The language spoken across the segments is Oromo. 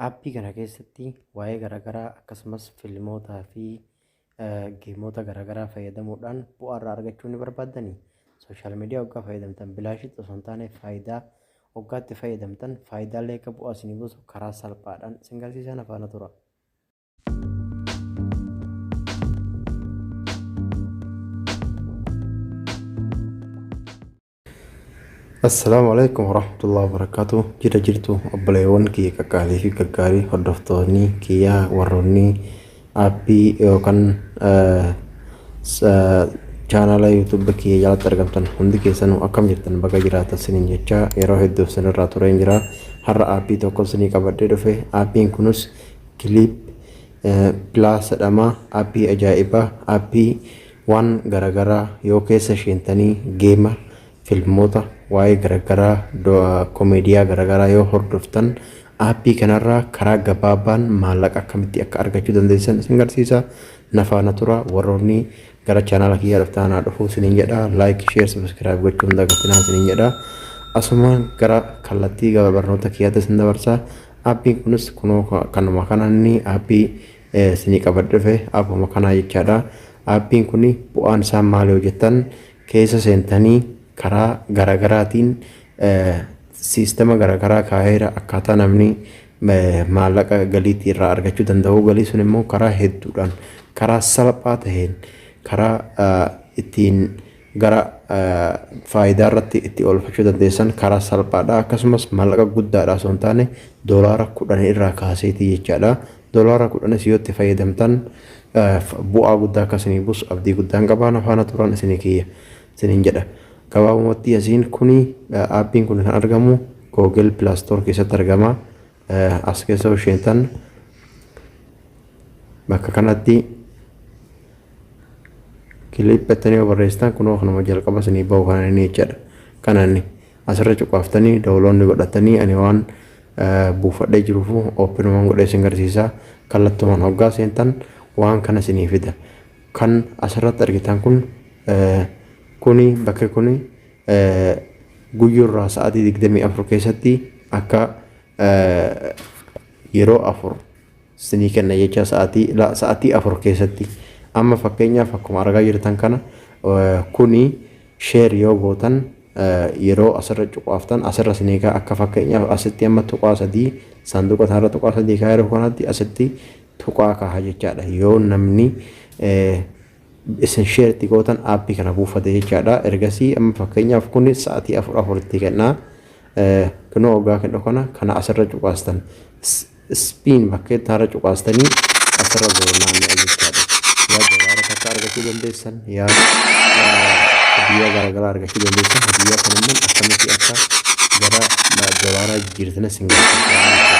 Appii kana keessatti waa'ee garaagaraa akkasumas filmootaa fi geemoota garaagaraa fayyadamuudhaan bu'aa irraa argachuu ni barbaaddanii? Sooshaal miidiyaa oggaa fayyadamtan bilaashitti osoo hin taane faayidaa oggaatti fayyadamtan faayidaalee akka bu'aa isinii buusu karaa salphaadhaan isin garsiisaa na faana tura. Assalaamu alaikum warahmatullahi wabarakatuh jira jirtu obboleewwan kiyya qaqqaalii fi gaggaarii hordoftoonni kiyya warroonni aappii yookaan chaanaala yuutuuba kiyya jalatti argamtan hundi keessanuu akkam jirtan baga jiraatan sinin jecha yeroo hedduuf sinirraa tureen jira har'a aappii tokko sinii qabadhee dhufe aappiin kunis kiliip pilaas jedhama aappii ajaa'ibaa aappii Waan garagaraa yoo keessa sheentanii geema, filmoota, waa'ee garagaraa, komeediyaa garagaraa yoo hordoftan aappii kanarraa karaa gabaabaan maallaqa akkamitti akka argachuu dandeessan isin garsiisa. Na faana tura warroonni gara chaanaala kiyyaa dhuftaan haa dhufuu isiniin jedha. Like, share, subscribe gochuu hin dagatinaa isiniin jedha. Asumaan gara kallattii gaba barnoota kiyyaatti isin dabarsa. Aappiin kunis kunoo kanuma kana inni aappii isinii qabadhe dhufe appuma kanaa jechaadha appiin kun bu'aan isaa maali yoo jettan keessa seentanii karaa garagaraatiin siistema garagaraa kaa'eera akkaataa namni maallaqa galiitti irraa argachuu danda'u galii sun immoo karaa hedduudhaan karaa salphaa ta'een karaa ittiin gara faayidaa irratti itti oolfachuu dandeessan karaa salphaadha akkasumas maallaqa guddaadha osoo hin taane doolaara kudhan irraa kaaseetii jechaadha Dolaara kudhanis yoo itti fayyadamtan bu'aa guddaa akka isinii buusu abdii guddaan qaba. Na faana turan isinii kiyya isiniin jedha. Gabaabumatti yasiin kuni aappiin kun kan argamu Google Play Store keessatti argama. As keessa yoo seentan bakka kanatti kiliip jettanii yoo barreessitan kunoo kanuma jalqaba isinii bahu kana inni jechaadha. Kana inni. Asirra cuqaaftanii dawuloonni godhatanii ani waan buufadhee jiruufu ooppinumaan godhee isin garsiisa. Kallattumaan hoggaa seentan waan kana isinii fida. Kan asirratti argitan kun kuni bakki kuni guyyurraa sa'aatii 24 keessatti akka yeroo afur sinii kenna jecha sa'atii la sa'atii afur keessatti amma fakkeenyaaf akkuma argaa jirtan kana kuni sheer yoo gootan yeroo asirra cuqaaftan asirra sinii kaa akka fakkeenyaaf asitti amma tuqaa sadii saanduqa isaarra tuqaa sadii kaa yeroo kanatti asitti tuqaa kaaha jechaadha yoo namni isin sheer itti gootan aappii kana buufate jechaadha ergasii amma fakkeenyaaf kuni sa'atii afur afuritti kennaa kunoo ogaa kennu kana kana asirra cuqaastan Spin bakka ittaarra cuqaastanii asirra goonaan jechaadha. Yaa doolaara takka argachuu dandeessan yaa hadiyyaa garaagaraa argachuu dandeessan hadiyyaa kan immoo akkamitti akka gara doolaaraa jijjiirtana sin gargaara.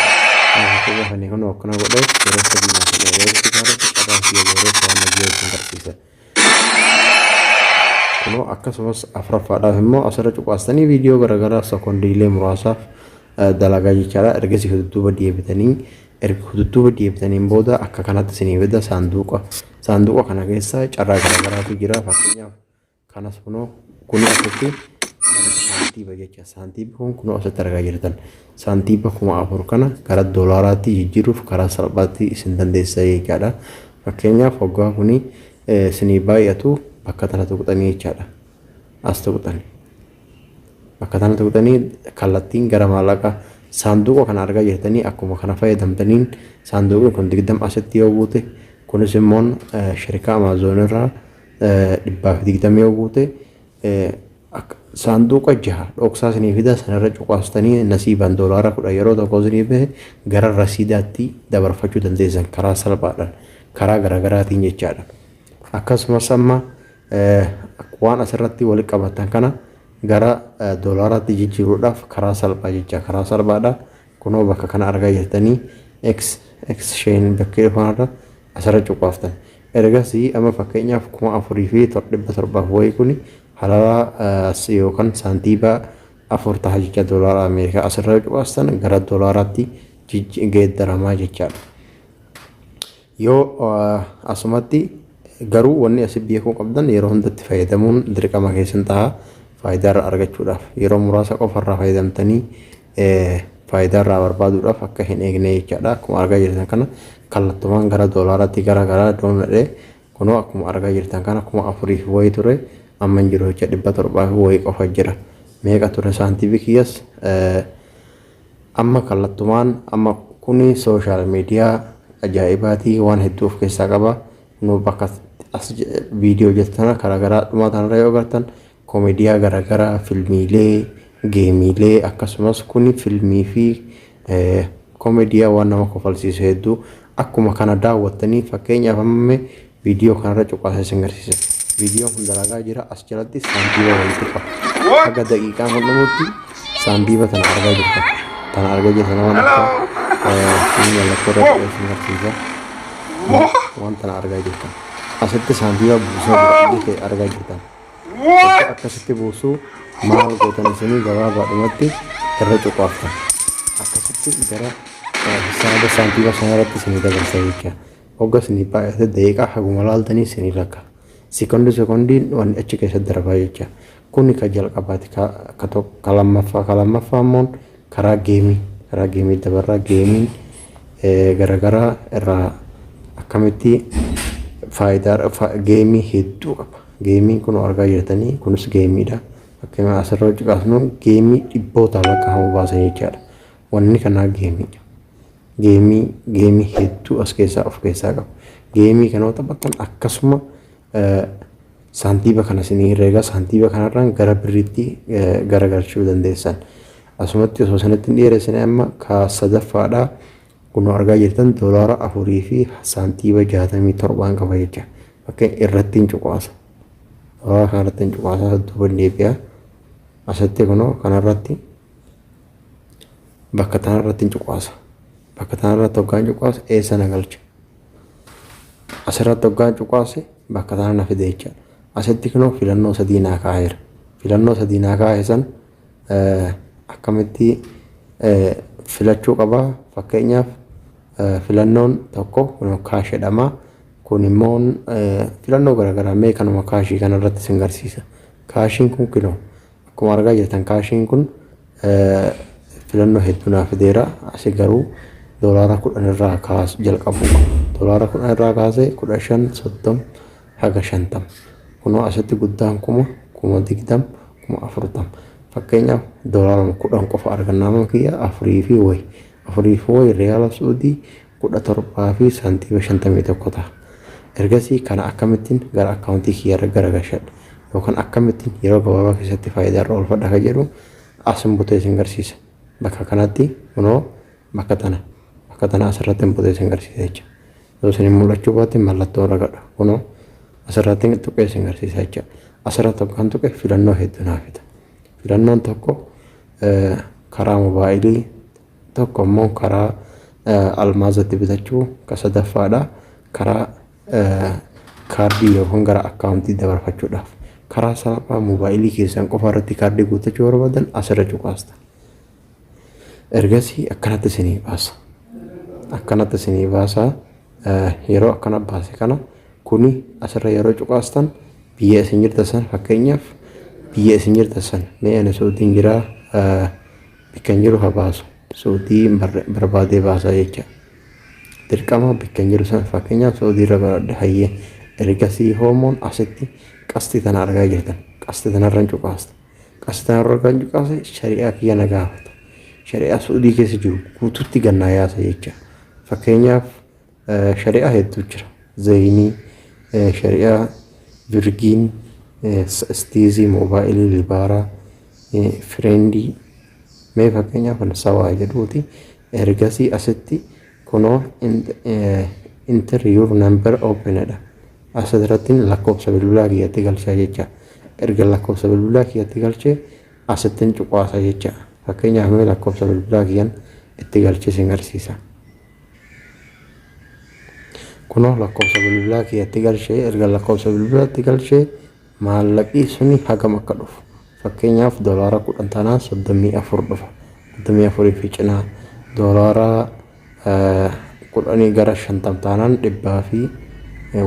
Akka gaafannee kan akkana godhee yeroo sadii naaf jedhee yeroo itti gaafatu carraa kiyya booree waan nagiyyaa isin garsiisa. kunoo akkasumas afraffaadhaaf immoo asirra cuqaastanii viidiyoo garaagaraa sekondiilee muraasaaf dalagaa jechaadha ergasii hududduuba deebitanii erga hududduuba deebitaniin booda akka kanatti isinii fida saanduuqa saanduuqa kana keessa carraa garaagaraatu jira fakkeenyaaf kanas kunoo kunoo asitti saantiiba jecha saantiibi kun kunoo asitti argaa jirtan Saantiiba 4000 kana gara doolaaraatti jijjiiruuf karaa salphaatti isin dandeessisa jechaadha. Fakkeenyaaf hoggaa kuni isinii baay'atu bakka tana tuqxanii jechaadha. As tuqxani. Bakka tana tuqxanii kallattiin gara maallaqa saanduuqa kana argaa jirtanii akkuma kana fayyadamtaniin saanduuqni kun 20 asitti yoo buute kunis immoo shirikaa amaazoon irraa 120 yoo buute Akka saanduuqa jaha dhoksaa isinii fida sanarra cuqaastanii nasiibaan doolaara kudhan yeroo tokko isinii bahe gara rasiidaatti dabarfachuu dandeessan karaa salphaadhaan karaa garaagaraatiin jechaadha. Akkasumas amma waan asirratti wal qabatan kana gara doolaaraatti jijjiiruudhaaf karaa salphaa jecha karaa salphaadha. Kunoo bakka kana argaa jirtanii X, X sheen bakkee dhufanarra asirra cuqaaftan. Ergasii amma fakkeenyaaf 4700 wayii kuni halaraa as yookaan saantiiba afur taha jecha doolaara Ameerikaa asirra cuqaastan gara doolaaraatti jijji- geeddaramaa jechaadha. Yoo asumatti garuu wanni asi beekuu qabdan yeroo hundatti fayyadamuun dirqama keessan taha faayidaa irraa argachuudhaaf yeroo muraasa qofa irraa fayyadamtanii faayidaa irraa barbaaduudhaaf akka hin eegne jechaadha akkuma argaa jirtan kana kallattumaan gara doolaaraatti gara garaa doonadhe kunoo akkuma argaa jirtan kana kuma afuriif wayii ture amma hin jiru jecha dhibba torbaaf wayii qofa jira meeqa ture saantiifi kiyyas Amma kallattumaan amma kun social media ajaa'ibaati waan hedduu of keessaa qaba nu bakka as viidiyoo hojjetu tana karaa garaa dhumaa tanarra yoo agartan komeediyaa garaagaraa filmiilee geemiilee akkasumas kun filmii fi komeediyaa waan nama kofalsiisu hedduu akkuma kana daawwattanii fakkeenyaaf amma Viidiyoo kanarra cuqaasa isin garsiisa. Viidiyoon kun dalagaa jira as jalatti saantiiba walitti qaba. Haga daqiiqaa kun dhumutti saantiiba tana argaa jirta. Tana argaa jirta nama lakka. Inni mallattoo irra ta'e isin garsiisa. Waan tana argaa jirta. Asitti saantiiba buusaa jira. Iji kee argaa jirta. Akka akkasitti buusuu maal gootan isinii gabaabaadhumatti irra cuqaaftan. Akkasitti gara hisaaba saantiiba sanarratti isinii dabarsa jecha. Hogga sinii baay'ate daqiiqaa haguma laaltanii sinii lakka. Sekondi sekondiin wanni achi keessa darbaa jecha. Kuni ka jalqabaati ka ka to ka lammaffaa ka lammaffaa immoon karaa geemii karaa geemii dabarraa geemiin garagaraa irraa akkamitti faayidaa fa, geemii hedduu qaba. Geemiin kun argaa jirtanii kunis geemiidha. Fakkeenyaaf asirra hojii kaasnu geemii dhibbootaan lakkaa'amu baasan jechaadha. Wanni kanaa geemiidha. Geemii geemii hedduu as keessaa of keessaa qaba. Geemii kana yoo taphattan akkasuma saantiiba kana isinii herreega saantiiba kanarraan gara birriitti garagalchuu dandeessan. Asumatti osoo isinitti hin dheeressine amma kaa sadaffaadha. Kunoo argaa jirtan doolaara afurii fi saantiiba jaatamii torbaan qaba jecha. Fakkeen irratti hin cuqaasa. Doolaara kanarratti hin cuqaasa duuba hin deebi'a. Asitti kunoo kanarratti bakka tana irratti hin cuqaasa bakka tana irratti hoggaan cuqaase eessa na galcha asirratti hoggaan cuqaase bakka tana na fide jecha asitti kunoo filannoo sadii naa kaa'eera filannoo sadii naa kaa'e san akkamitti filachuu qaba fakkeenyaaf filannoon tokko kun kaash jedhama kun immoo filannoo garaagaraa mee kanuma kaashii kanarratti sin garsiisa kaashiin kun kunoo Akkuma argaa jirtan kaashiin kun filannoo hedduu naa fideera. Asi garuu doolaara kudhan irraa kaasu jalqabu. Doolaara kudhan irraa kaasee kudha shan soddom haga shantam. Kunoo asitti guddaan kuma kuma digdam kuma afurtam. Fakkeenyaaf doolaara kudhan qofa arganna amma kiyya afurii fi wayi. Afurii fi wayi riyaala suudii 17.51 taha. Ergasii kana akkamittin gara account kiyya irra garagashadha yookan akkamittin yeroo gabaabaa keessatti faayidaa irra oolfadha ka jedhu asin butee isin garsiisa. Bakka kanatti kunoo bakka tana bakka tana asirrattin butee isin garsiisa jecha. Yoo isin hin mul'achuu baatte mallattoo irra gadha. Kunoo asirrattin tuqee isin garsiisa jecha. Asirra tokkan tuqe filannoo heddu naa fida. Filannoon tokko karaa mobaayilii Tokko ammoo karaa almaazatti bitachuu ka sadaffaadha. Karaa kaardii yookaan gara akkaawuntii dabarfachuudhaaf. Karaa salphaa moobaayilii keessan qofa irratti kaardii guuttachuu barbaadan asirra cuqaasta. Ergasii akkanatti isinii baasa. Akkanatti isinii baasa. Yeroo akkana baase kana kuni asirra yeroo cuqaastan biyya isin jirtan san fakkeenyaaf biyya isin jirtan san mee ani Suudiin jiraa Bikka hin jiru ha baasu. Saudii hin barre barbaadee baasaa jecha dirqama bikka hin jiru san fakkeenyaaf saudii irra baradhe hayyee ergasii hoomoon asitti qasxii tana argaa jirtan qasxii tanarra hin cuqaasta qasxii tanarra kan cuqaase shari'aa kiyya na gaafata shari'aa saudii keessa jiru guututti gannaa yaasa jecha fakkeenyaaf Shari'aa hedduu jira. Zayinii, shari'aa, virgiin, istiizii, moobaayilii, libaaraa, fireendii. Mee fakkeenyaaf kan sawaa jedhuuti. Ergasii asitti kunoo enter your number open dha. Asirratti lakkoofsa bilbilaa kiyyatti galchaa jecha. Erga lakkoofsa bilbilaa kiyyatti galchee asittiin cuqaasa jecha. Fakkeenyaaf mee lakkoofsa bilbilaa kiyyan itti galchee sin garsiisa. Kunoo lakkoofsa bilbilaa kiyyatti galchee erga lakkoofsa bilbilaatti galchee maallaqii suni hagam akka dhufu fakkeenyaaf doolaara kudhan tanaan soddomii afur dhufa soddomii afurii fi cinaa doolaara kudhanii gara shantam taanaan dhibbaa fi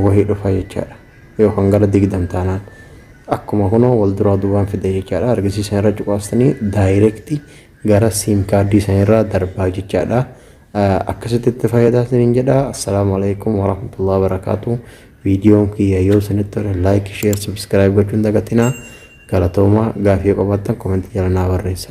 wahii dhufa jechaadha yookaan gara digdam taanaan akkuma kunoo wal duraa duubaan fida jechaadha argisiisan irra cuqaastanii daayireektii gara siim kaardii sanirraa darbaa jechaadha. akkasitti itti fayyadamaa isiniin jedha assalaamu alaikum warahmatullahi wabarakaatu viidiyoon kiyya yoo isinitti tole laayik sheer subscribe gochuun dagatinaa galatoomaa gaafii qabattan komentii jala naa barreessa